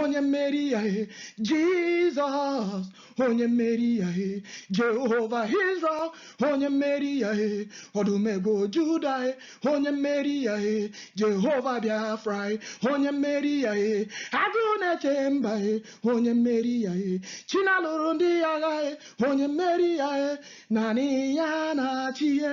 onye mmeri ya e jizọs onye mmeri ya e jehova israel onye mmeri ya e ọdụm ebo juda e onye mmeri ya e jehova biafra e onye mmeri ya e agụ na-eche mba e onye mmeri ya e chi na-alụrụ ndị ya agha e onye mmeri ya e naanị ya na-achị e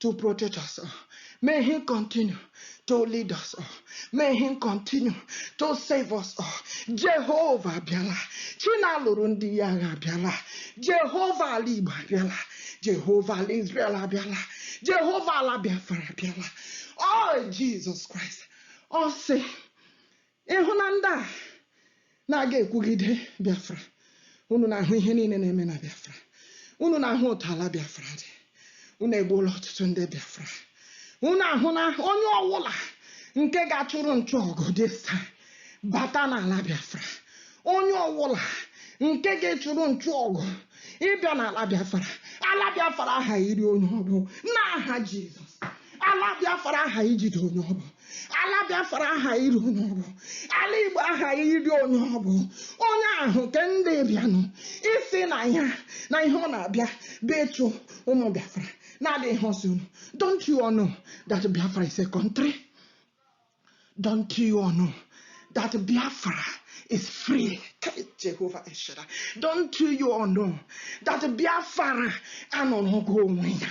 to protect us o. May Him continue to lead us o. May Him continue to save us o. Jehovah bịala. Chi na-alụrụ ndị ya agha bịala. Jehova ala Igbo abịala. Jehova ala Israel abịala. Jehova ala Biafra abịala. Oh, Jesus Christ. Ọ sị, Ị hụ na ndị a na-aga ekwugide Biafra, unu na-ahụ ihe niile na-eme na Biafra, unu na-ahụ otu ala Biafra dị, unu egbuola ọtụtụ ndị Biafra, unu ahụ na onye ọwụla nke ga-achụrụ nchụ ọgụ dị taa bata n'ala Biafra, onye ọwụla nke ga-achụrụ nchụ ọgụ ịbịa n'ala Biafra, ala Biafra aha iri onye ọ bụ n'aha Jizọs, ala Biafra aha ijide onye ọ bụ. ala biafra aha iri onye ọ bụ ala igbo aha iri onye ọ bụ onye ahụ nke ndị bịanụ isi na ya na ihe ọ na-abịa bụ ịchụ ụmụ biafra na-adịghị ihe ọ sị unu don't you all know that biafra is a country don't you all know that biafra is free jehova el shaddai don't you all know that biafra anọrọgo onwe ya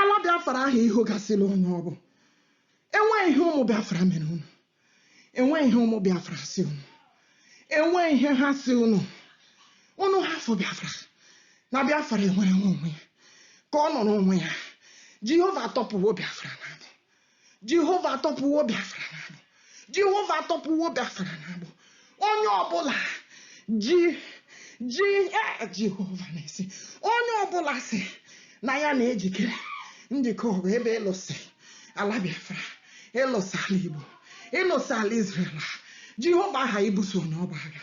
Ala Biafra aha ihugasịla onye ọ bụ. Enweghị ihe ụmụ Biafra mere unu. Enweghị ihe ụmụ Biafra si unu. Enweghị ihe ha si unu. Unu hafụ Biafra. Na Biafra enwere nwe onwe ya. Ka ọ nọrọ onwe ya. Jehova atọpụwo Biafra n'agbụ. jehova atọpụwo biafra n'agbụ jehova atọpụwo biafra n'agbụ onye ọbụla ji ji e jehova na-esi onye ọbụla si na ya na-ejikere njikọ ọgụ ebe ịlụsị ala biafra ịlụsị ala igbo ịlụsị ala israel jehova aha ibuso onye ọ bụ agha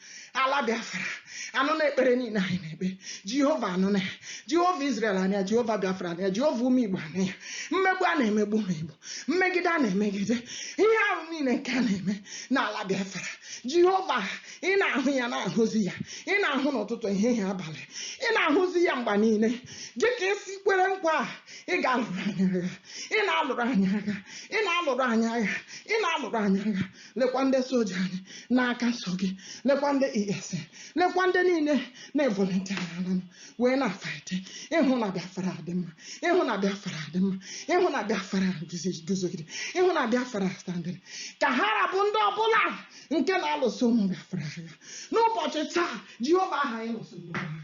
ala biafra anụna ekpere niile anyị na-ekpe jehova anụna ya jehova israel anụ ya jehova biafra anụ ya jehova ụmụ igbo anụ ya mmegbu a na-emegbu ụmụ igbo mmegide a na-emegide ihe ahụ niile nke a na-eme n'ala biafra jehova ị na-ahụ ya na-ahụzi ya ị na-ahụ n'ụtụtụ ehihie abalị ị na-ahụzi ya mgbe niile dị ka i si kwere nkwa a ị ga-alụrụ anyị agha ị na-alụrụ anyị agha ị na-alụrụ anyị agha ị na-alụrụ anyị agha lekwa ndị soja anyị n'aka nsọ gị lekwa ndị esn lekwa ndị niile na-evolunteer ala wee na-afight ịhụ na biafra adị mma ịhụ na biafra adị mma ịhụ na biafra guzi- guzogide ịhụ na biafra standịrị ka ha rabụ ndị ọbụla nke na-alụso ụmụ biafra agha n'ụbọchị taa jehova aha anyị lụsoro agha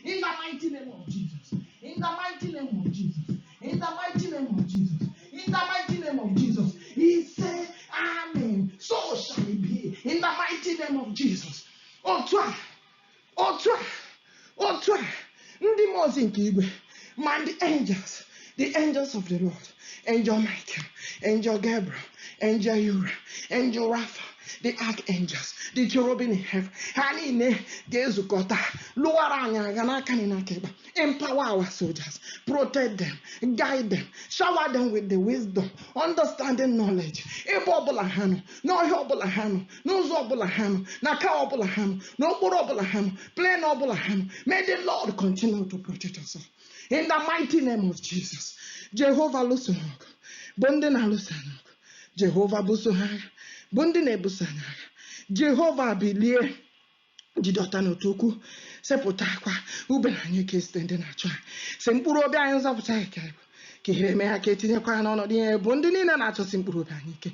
in the mighty name of jesus in the mighty name of jesus In the mighty name of Jesus. In the mighty name of Jesus. Isee, Amen. So shall it be. In the mighty name of Jesus. Otu a, otu a, otu a, ndị mmụọ ozi nke igwe, ma ndị angels, the angels of the Lord, angel Michael, angel Gabriel, angel Uriel, angel Raphael, the archangels, the cherubim in heaven, ha niile ga-ezukọta lụwara anyị agha n'aka nri n'aka ịkpa. Empower our soldiers, protect them, guide them, shower them with the wisdom, understanding knowledge. Ebe ọbụla ha nọ, n'ọhịa ọbụla ha nọ, n'ụzọ ọbụla ha nọ, n'aka ọbụla ha nọ, n'okporo ọbụla ha nọ, lane ọbụla ha nọ. May the Lord continue to protect us all. In the mighty name of Jesus, Jehovah lụso ha ọgụ, bụ ndị na-alụso anyị ọgụ. Jehova buso ha agha, bụ ndị na-ebuso anyị agha. Jehova bilie. jide ọta na ọta ukwu sepụtakwa ube na anyịke izute ndị na-achụ ha sị mkpụrụ obi anyị nzọpụta anyị ka ị bụ ka ihere mee ha ka etinyekwa ha n'ọnọdụ ihere bụ ndị niile na-achọsi mkpụrụ obi anyị ike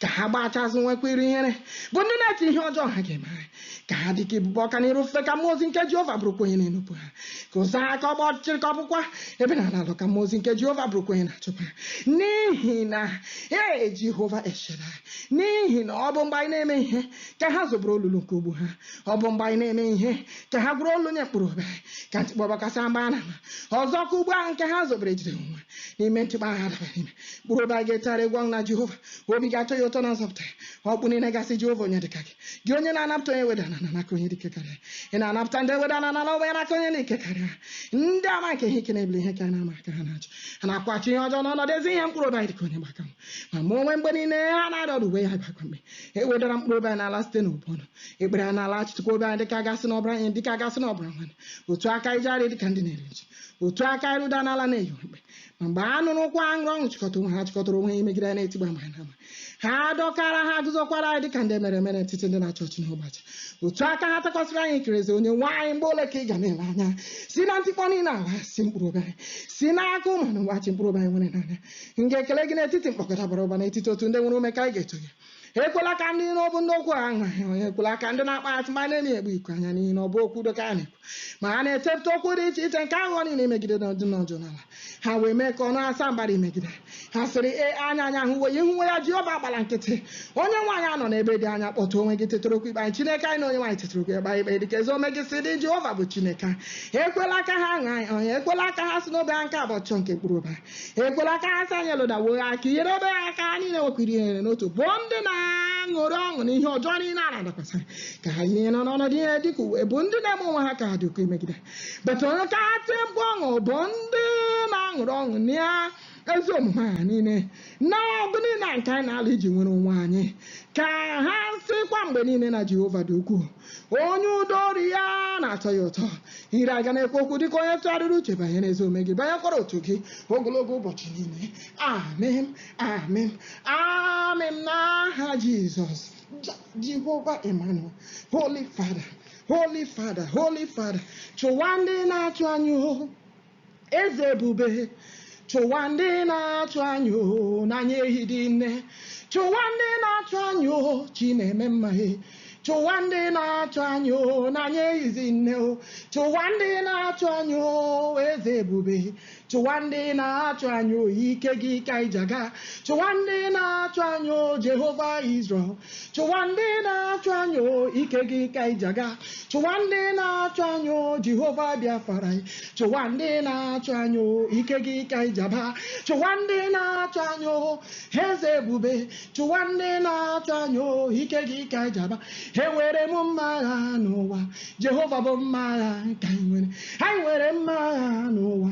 ka ha gbachi azụ nwekwa iru ihere bụ ndị na-eche ihe ọjọọ ha ga-eme anyị ka ha dị ka igbogbo ọka n'iru ifufe ka mmụọ ozi nke jehova bụrụkwa onye na-enupụ ha ka ụzọ ha ka ọ gbaa ọchịchịrị ka ọ bụkwa ebe na-alọ alọ ka mmụọ ozi nke jehova bụrụkwa onye na-achụkwa ha n'ihi na ee jehova el shaddai n'ihi na ọ bụ mgbe anyị na-emeghị ihe ka ha zobeworo olulu nke ụgbụ ha ọ bụ mgbe anyị na-emeghị ihe ka ha gwuru olulu nye mkpụrụ obi ka ntikpọ bịakwasị ha mgbe ha na-amaghị ọzọ ka ụgbụ ahụ nke ha zobere jide onwe n'ime ntikpọ ahụ adaba n'ime mkpụrụ obi anyị ga-etegharị egwu ọṅụ na jehova obi ga-atọ ya ụtọ na nzọpụta ya ọkpụkpụ niile ga-asị jehova onye dịka gị gị onye na-anapụta onye e wedara n'ala n'aka onye dị ike karịa ya na-anapụta ndị e wedara n'ala na ogbenye n'aka onye dị ike karịa ndị ama nke ihe ike na-ebili ihe anyị na-amaghị ka ha na-ajụ ha na-akwụghachi ihe ọjọọ n'ọnọdụ ezi ihe mkpụrụ obi anyị dịka onye gba aka nwa ma mụ onwe mgbe niile ha na-arịa ọrịa uwe ya bụ akwa mkpe e wedara mkpụrụ obi anyị n'ala site n'ibu ọnụ ekpere anyị na-alaghachikutekwa obi anyị dịka a ga-asị na ọ bụrụ enyi dịka a ga-asị na ọ bụrụ nwanne otu a ka anyị jegharị dịka ndị na-eru uju otu a ka anyị rudara ala na-eyi mkpe ma mgbe anyị nwụrụ ụkwụ ha ṅụrịrị ọṅụ chịkọta onwe ha chịkọtara onwe ha imegide anyị na-etigbu mgbe anyị na-amaghị ha dọkara ha guzokwara anyị dịka ndị merụrụ emerụ n'etiti ndị na-achị ọchị n'ụbọchị otu a ka ha takwasịrị anyị ikikere eze onye nwe anyị mgbe ole ka ị ga na-ele anya si na ntikpọ niile ha si mkpụrụ obi anyị si n'aka ụmụ na nwachi mkpụrụ obi anyị nwere naanị ya m ga-ekele gị n'etiti mkpọkọta bara ụba n'etiti otu ndị nwere ume ka anyị ga-eto gị ekwela ka ndị iro bụ ndị okwu ụgha ṅụrịa ọnụ ekwela ka ndị na-akpọ asị ma na-emegbu ikwe anya n'ihi na ọ bụghị okwu udo ka ha na-ekwu ma ha na-echepụta okwu dị iche iche nke aghụghọ niile imegide ndị nọdụ n'udo n'ala ha wee mee ka ọnụ ha saa mbara imegide ha sịrị ehe anya anyị ahụwo ya ị hụwo ya jehova agbala nkịtị onye nwe anyị anọla n'ebe dị anya kpọte onwe gị tetara okwu ikpe anyị chineke anyị na onye nwe anyị tetara okwu kpee anyị ikpe dịka ezi omume gị si dị jehova bụ chineke ekwela ka ha ṅụrịa anyị ọnụ ekwela ka ha sị n'obi ha nke a bụ ọchịchọ nke mkpụrụ obi ha ekwela ka ha sị anyị elodawo ha ka ihere mee ha ka ha niile nwekwaa ihere n'otu bụ ndị na-aṅụrị ọṅụ na ihe ọjọọ niile a na-adakwasị ka ha yiri ihere na ọnọdụ ihere dị ka uwe bụ ndị na-eme onwe ha ka ha dị ukwu imegide bata onye ka ha tie mkpu ọṅụ bụ ndị na-aṅụrị ọṅụ na ezi omume ha niile na ọgụ niile a nke anyị na-alụ iji nwere onwe anyị ka ha sịkwa mgbe niile na jehova dị ukwuu onye udo oru ya na-atọ ya ụtọ ire ha ga na-ekwu okwu dịka onye tụgharịrị uche banyere ezi omume gị banyekwara otuto gị ogologo ụbọchị niile amen amen amen n'aha jizọs jehova emmanuel holy father holy father holy father chụwa ndị na-achụ anyị o Eze ebube, chụwa ndị na-achụ anyị o, na anyị ehidi nne. Chụwa ndị na-achụ anyị o, chi na-eme mma e. Chụwa ndị na-achụ anyị o, na anyị ehizi nne o. Chụwa ndị na-achụ anyị o, eze ebube. Chụwa ndị na-achụ anyị o, ike gị ka anyị ji aga. Chụwa ndị na-achụ anyị o, Jehova Izrel. chụwa ndị na-achụ anyị o ike gị ka anyị ji aga chụwa ndị na-achụ anyị o jehova biafra anyị chụwa ndị na-achụ anyị o ike gị ka anyị ji aba chụwa ndị na-achụ anyị o eze ebube chụwa ndị na-achụ anyị o ike gị ka anyị ji aba enwere m mma agha n'ụwa jehova bụ mma agha nke anyị nwere anyị nwere mma agha n'ụwa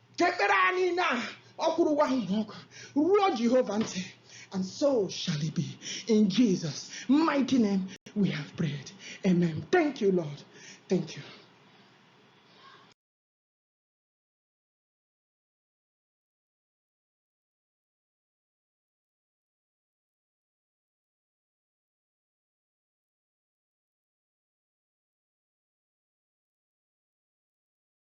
ka ekpere anyị na ọkwụrụwa ahụ na ọkụ ruo jehova ntị and so shall it be in jesus mighty name we have prayed amen thank you lord thank you